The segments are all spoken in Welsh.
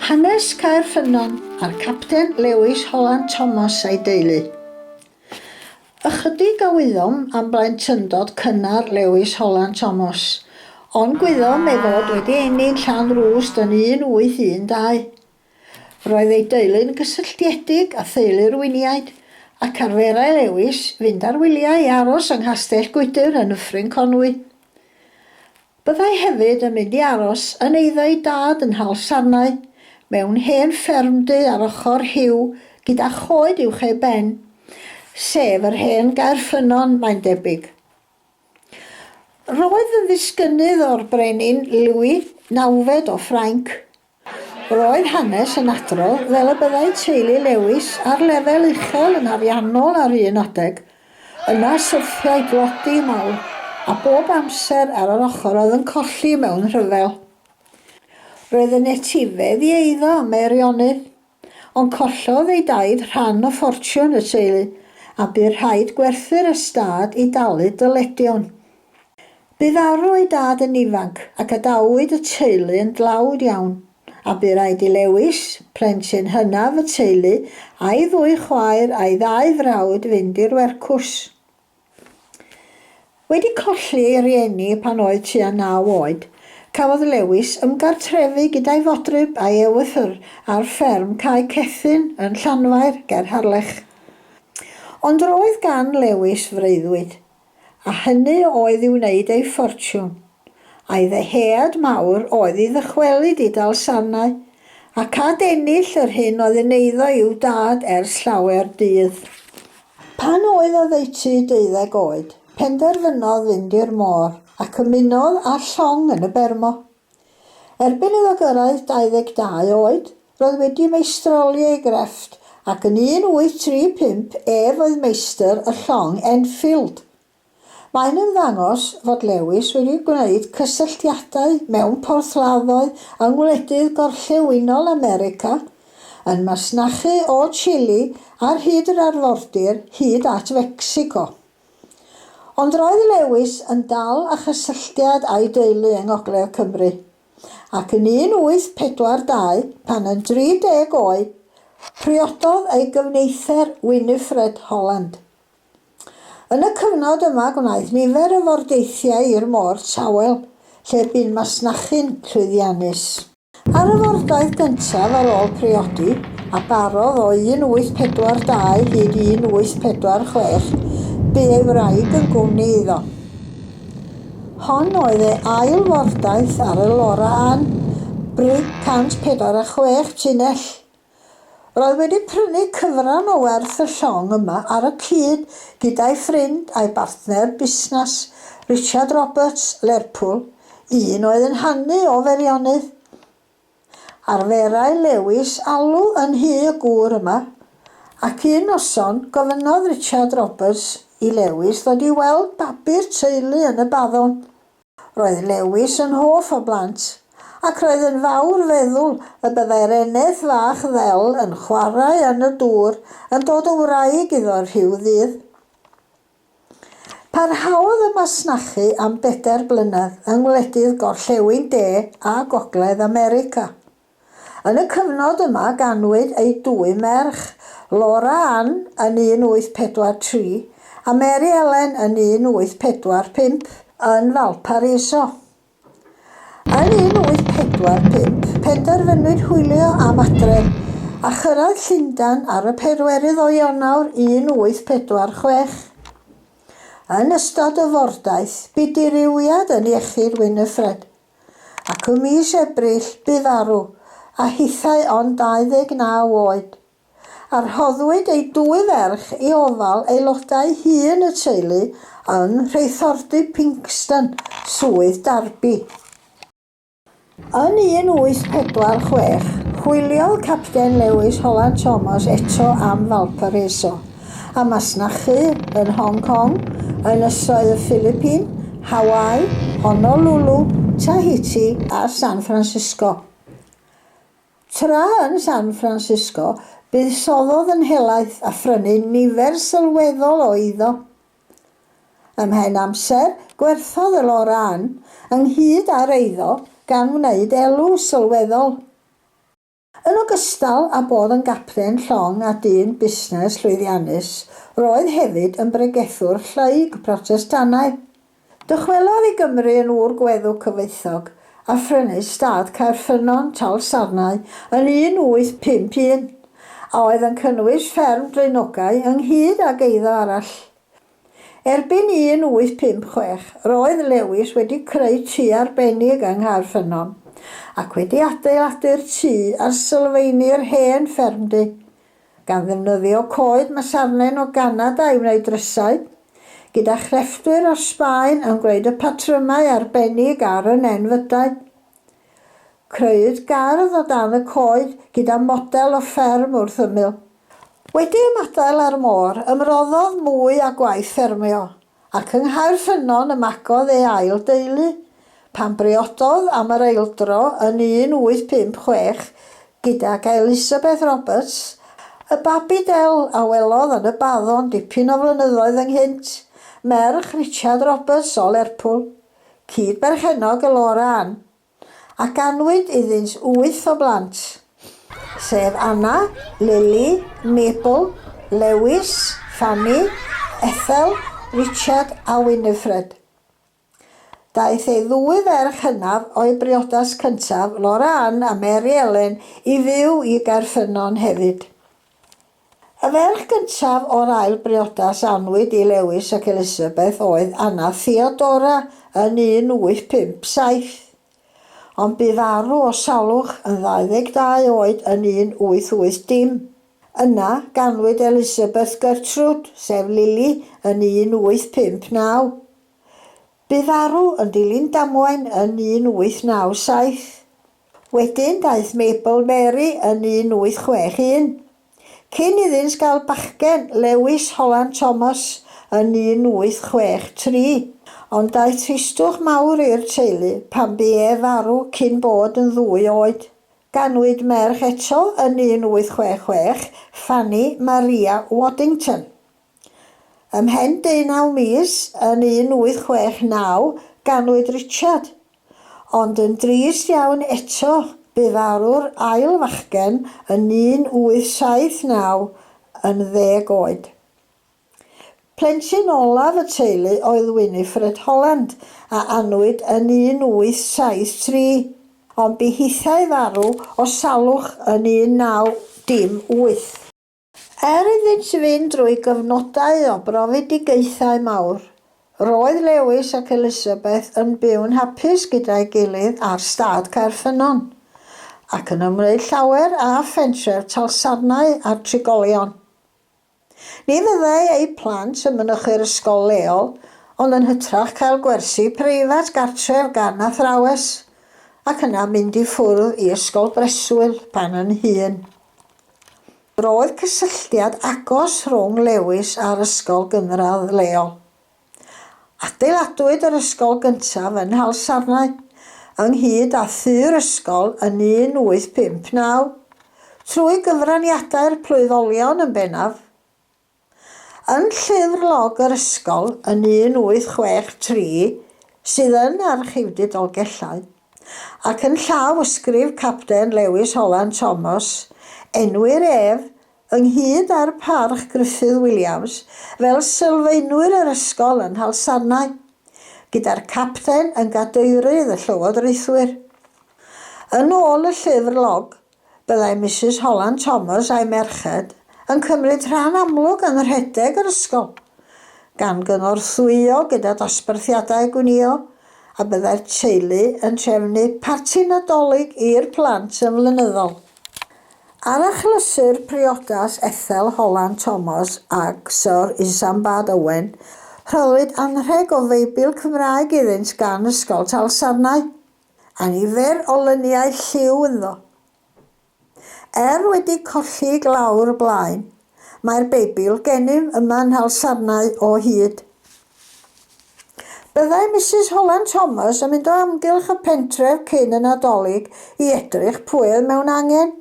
Hanes Caer Ffynnon a'r capten Lewis Holland Thomas a'i deulu. Ychydig a wyddom am blentyndod cynnar Lewis Holland Thomas, ond gwyddom ei fod wedi ennill llan rwst yn 1812. Roedd ei deulu'n gysylltiedig â theulu'r Winiaid, ac arferai Lewis fynd ar wyliau i aros yng Nghastell Gwydir yn Nyffryn Conwy. Byddai hefyd yn mynd i aros yn eiddo ei dad yn Nhal Sarnau, mewn hen fferm du ar ochr Rhiw gyda choed uwch ei ben, sef yr hen Gaerffynnon, mae'n debyg. Roedd yn ddisgynnydd o'r brenin Louis, nawfed o Ffrainc, Roedd hanes yn adrodd fel y byddai teulu Lewis ar lefel uchel yn ariannol ar un adeg. Yna syrthiai dlodi mawr, a bob amser ar yr ochr oedd yn colli mewn rhyfel. Roedd yn etifedd i eiddo a Meirionnydd. Ond collodd ei daid rhan o ffortiwn y teulu a bu rhaid gwerthu'r ystâd i dalu dyledion. Bu farw ei dad yn ifanc ac adawyd y teulu yn dlawd iawn, a bu raid i Lewis, plentyn hynaf y teulu, a'i ddwy chwaer a'i ddau frawd fynd i'r wercws. Wedi colli ei rieni pan oedd tua naw oed, cafodd Lewis ymgartrefu gyda'i fodryb a'i ewythr ar fferm Cae Cethyn yn Llanfair ger Harlech. Ond roedd gan Lewis freuddwyd, a hynny oedd i wneud ei ffortiwn, a'i ddyhead mawr oedd i ddychwelyd i Dalsarnau ac adennill yr hyn oedd yn eiddo i'w dad ers llawer dydd. Pan oedd oddeutu deuddeg oed, penderfynodd fynd i'r môr ac ymunodd â'r llong yn y Bermo. Erbyn iddo gyrraedd 22 oed, roedd wedi meistroli ei grefft ac yn 1835 ef oedd meistr y llong Enfield. Mae'n ymddangos fod Lewis wedi gwneud cysylltiadau mewn porthladdoedd yng ngwledydd gorllewinol America, yn masnachu o Chile ar hyd yr arfordir hyd at Fecsico. Ond roedd Lewis yn dal â chysylltiad â'i deulu yng ngogledd Cymru, ac yn 1842, pan yn 30 oed, priododd ei gyfnither Winifred Holland. Yn y cyfnod yma gwnaeth nifer o fordeithiau i'r môr tawel lle bu'n masnachu'n llwyddiannus. Ar y fordaith gyntaf ar ôl priodi, a barodd o 1842 hyd 1846, bu ei wraig yn gwmni iddo. Hon oedd ei ail fordaith ar y Laura Ann, brig 146 tunnell. Roedd wedi prynu cyfran o werth y llong yma ar y cyd gyda'i ffrind a'i bartner busnas, Richard Roberts, Lerpwl, un oedd yn hanu o Feirionnydd. Arferai Lewis alw yn nhŷ y gŵr yma, ac un noson, gofynnodd Richard Roberts i Lewis ddod i weld babi'r teulu yn y baddon. Roedd Lewis yn hoff o blant, ac roedd yn fawr feddwl y byddai'r eneth fach ddel yn chwarae yn y dŵr yn dod yn wraig iddo rhyw ddydd. Parhaodd y masnachu am bedair blynedd yng ngwledydd gorllewin De a Gogledd America. Yn y cyfnod yma ganwyd eu dwy merch, Laura Ann yn 1843 a Mary Ellen yn 1845, yn Valparaiso. Yn 1845, penderfynwyd hwylio am adref, a chyrraedd Llundain ar y pedwerydd o Ionawr 1846. Yn ystod y fordaith, bu dirywiad yn iechyd Winifred. ac ym mis Ebrill bu farw, a hithau ond 29 oed, a rhoddwyd ei dwy ferch i ofal aelodau hŷn y teulu yn rheithordy Pinxton, Swydd Derby. Yn 1846, hwyliodd Capten Lewis Holland Thomas eto am Valparaiso. a masnachu yn Hong Kong, Ynysoedd y Philippine, Hawaii, Honolulu, Tahiti a San Francisco. Tra yn San Francisco, buddsoddodd yn helaeth a phrynu nifer sylweddol o eiddo. Ymhen amser, gwerthodd y lor ân, ynghyd â'r eiddo, gan wneud elw sylweddol. Yn ogystal â bod yn gapten llong a dyn busnes llwyddiannus, roedd hefyd yn bregethwr llaug Protestannaidd. Dychwelodd i Gymru yn ŵr gweddw cyfoethog, a phrynu stad Caerffynnon, Talsarnau, yn 1851, a oedd yn cynnwys fferm draenogau ynghyd ag eiddo arall. Erbyn 1856, roedd Lewis wedi creu tŷ arbennig yng Nghaerffynnon, ac wedi adeiladu'r tŷ ar sylfaenu'r hen ffermdy, gan ddefnyddio coed masarnen o Ganada i wneud drysau, gyda chrefftwyr o Sbaen yn gwneud y patrymau arbennig ar y nenfydau. Crëwyd gardd o dan y coed gyda model o fferm wrth ymyl. Wedi ymadael â'r môr, ymroddodd mwy â gwaith ffermio, ac yng Nghaerffynnon ymagodd ei ail deulu, pan briododd am yr eildro yn 1856 gydag Elisabeth Roberts, y babi del a welodd yn y baddon dipyn o flynyddoedd ynghynt, merch Richard Roberts o Lerpwl, cyd-berchennog y Laura Ann. a ganwyd iddynt wyth o blant, sef Anna, Lily, Mabel, Lewis, Fanny, Ethel, Richard a Winifred. Daeth ei ddwy ferch hynaf o'i briodas cyntaf, Laura Ann a Mary Ellen, i fyw i Gaerffynnon hefyd. Y ferch gyntaf o'r ail briodas a anwyd i Lewis ac Elisabeth oedd Anna Theodora yn 1857, ond bu farw o salwch yn 22 oed yn 1880. Yna, ganwyd Elisabeth Gertrud, sef Lili, yn 1859. Bu farw yn dilyn damwain yn 1897. Wedyn daeth Mabel Mary yn 1861. Cyn iddynt gael bachgen, Lewis Holland Thomas, yn 1863. Ond daeth tristwch mawr i'r teulu pan bu ef farw cyn bod yn ddwy oed. Ganwyd merch eto yn 1866, Fanny Maria Waddington. Ymhen deunaw mis, yn 1869, ganwyd Richard. Ond yn drist iawn eto, bu farw'r ail fachgen yn 1879 yn ddeg oed. Plentyn olaf y teulu oedd Winifred Holland, a anwyd yn 1873, ond bu hithau farw o salwch yn 1918. Er iddynt fynd drwy gyfnodau o brofedigaethau mawr, roedd Lewis ac Elizabeth yn byw'n hapus gyda'i gilydd ar stad Caerffynnon, ac yn ymwneud llawer â phentref Talsarnau a'r trigolion. Ni fyddai eu plant yn mynychu'r ysgol leol, ond yn hytrach cael gwersi preifat gartref gan athrawes, ac yna mynd i ffwrdd i ysgol breswyl pan yn hŷn. Roedd cysylltiad agos rhwng Lewis a'r ysgol gynradd leol. Adeiladwyd yr ysgol gyntaf yn Nhalsarnau, ynghyd â thŷ'r ysgol yn 1859. Trwy gyfraniadau'r Plwyfolion yn bennaf, Yn llyfr log yr ysgol yn 1863 sydd yn Archifdy Dolgellau, ac yn llawysgrif Capten Lewis Holland Thomas, enwir ef, ynghyd â'r Parch Gruffydd Williams, fel sylfaenwyr yr ysgol yn Nhalsarnau, gyda'r Capten yn gadeirydd y llywodraethwyr. Yn ôl y llyfr log, Byddai Misus Holland Thomas a'i merched yn cymryd rhan amlwg yn rhedeg yr ysgol, gan gynorthwyo gyda dosbarthiadau gwnïo, a byddai'r teulu yn trefnu parti Nadolig i'r plant yn flynyddol. Ar achlysur priodas Ethel Holland Thomas ag Syr Isambard Owen, rhoddwyd anrheg o Feibl Cymraeg iddynt gan Ysgol Talsarnau. a nifer o lyniau lliw ynddo. Er wedi colli i glawr y blaen, mae'r Beibl gennym yma yn nhalsarnau o hyd. Byddai Misus Holland Thomas yn mynd o amgylch y pentref cyn y Nadolig i edrych pwy oedd mewn angen.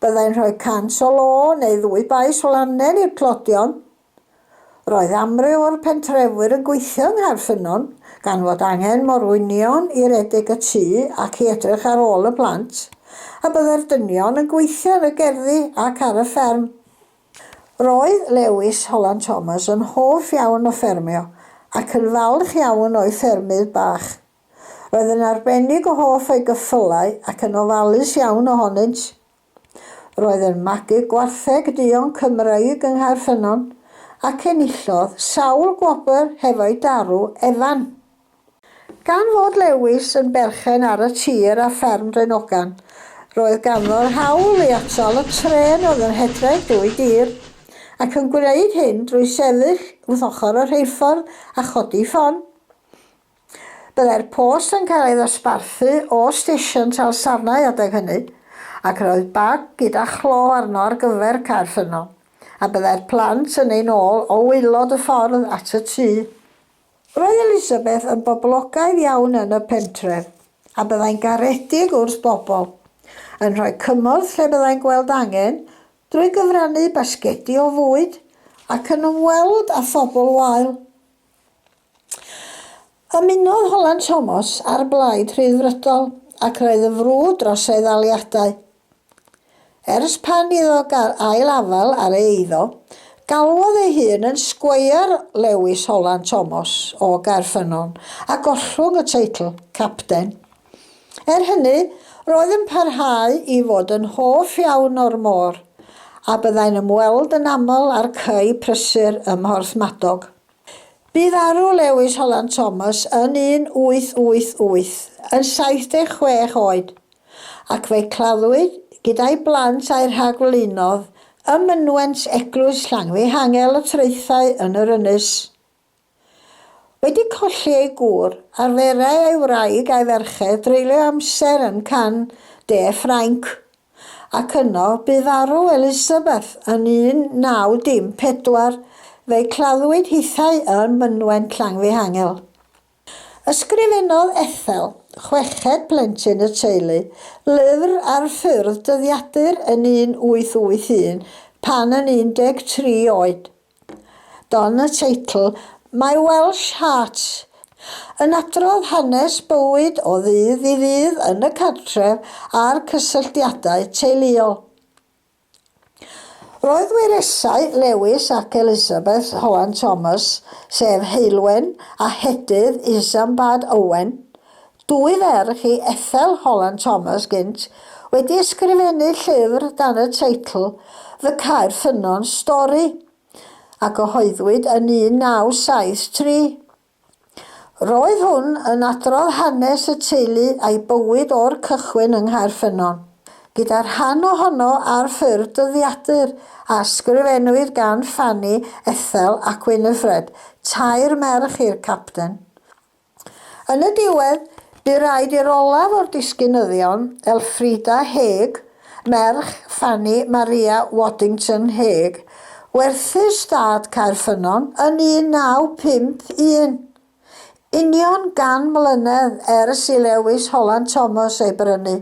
Byddai'n rhoi cant o lo neu ddwy bais o lannen i'r tlodion. Roedd amryw o'r pentrefwyr yn gweithio yng Nghaerffynnon, gan fod angen morwynion i redeg y tŷ ac i edrych ar ôl y plant, a byddai'r dynion yn gweithio yn y gerddi ac ar y fferm. Roedd Lewis Holland Thomas yn hoff iawn o ffermio ac yn falch iawn o'i ffermydd bach. Roedd yn arbennig o hoff o'i geffylau ac yn ofalus iawn ohonynt. Roedd yn magu gwartheg duon Cymreig yng Nghaerffynnon ac enillodd sawl gwobr hefo'i darw Evan. Gan fod Lewis yn berchen ar y tir a fferm Draenogan, roedd ganddo'r hawl i atal y trên oedd yn rhedeg drwy dir, ac yn gwneud hyn drwy sefyll wrth ochr y rheilffordd a chodi ffon. Byddai'r post yn cael ei ddosbarthu o stesion Talsarnau adeg hynny, ac yr oedd bag gyda chlo arno ar gyfer cau'r ffynnon, a byddai'r plant yn ein ôl o waelod y ffordd at y tŷ. Roedd Elizabeth yn boblogaidd iawn yn y pentref, a byddai'n garedig wrth bobl, yn rhoi cymorth lle byddai'n gweld angen, drwy gyfrannu basgedi o fwyd, ac yn ymweld â phobl wael. Ymunodd Holland Thomas â'r Blaid Rhyddfrydol ac roedd yn frwd dros ei ddaliadau. Ers pan iddo gael ail afael ar ei eiddo, galwodd ei hun yn Sgweier Lewis Holland Thomas o Gaerffynnon a gollwng y teitl Capten. Er hynny, roedd yn parhau i fod yn hoff iawn o'r môr a byddai'n ymweld yn aml â'r cae prysur ym Mhorthmadog. Bu farw Lewis Holland Thomas yn 1888, yn 76 oed, ac fe'i claddwyd, gyda'i blant a'i rhagflaenodd, ym mynwent Eglwys Llangfihangel y Traethau yn yr ynys. Wedi colli ei gŵr, arferai ei wraig a'i ferched dreulio amser yn can de Ffrainc. ac yno bu farw Elisabeth yn 1914, fe'i claddwyd hithau ym mynwent Llanfihangel. Ysgrifennodd Ethel, chweched plentyn y teulu, lyfr ar ffurf dyddiadur yn 1881, pan yn 13 oed. Don y teitl My Welsh Heart yn adrodd hanes bywyd o ddydd i ddydd yn y cartref a'r cysylltiadau teuluol. Roedd wyresau Lewis ac Elizabeth Howand-Thomas, sef Heulwen a Hedydd Isambard Owen, Dwy ferch i Ethel Holland Thomas gynt wedi ysgrifennu llyfr dan y teitl Fy Caer Ffynnon, Stori, a gyhoeddwyd yn 1973. Roedd hwn yn adrodd hanes y teulu a'i bywyd o'r cychwyn yng Nghaer Ffynnon, gyda rhan ohono ar ffurf dyddiadur, a ysgrifennwyd gan Fanny, Ethel ac Winifred, tair merch i'r Capten. Yn y diwedd, bu raid i'r olaf o'r disgynyddion, Elfrida Hague, merch Fanny Maria Waddington Hague, werthu'r stad Caerffynnon yn 1951, union gan mlynedd ers i Lewis Holland Thomas ei brynu.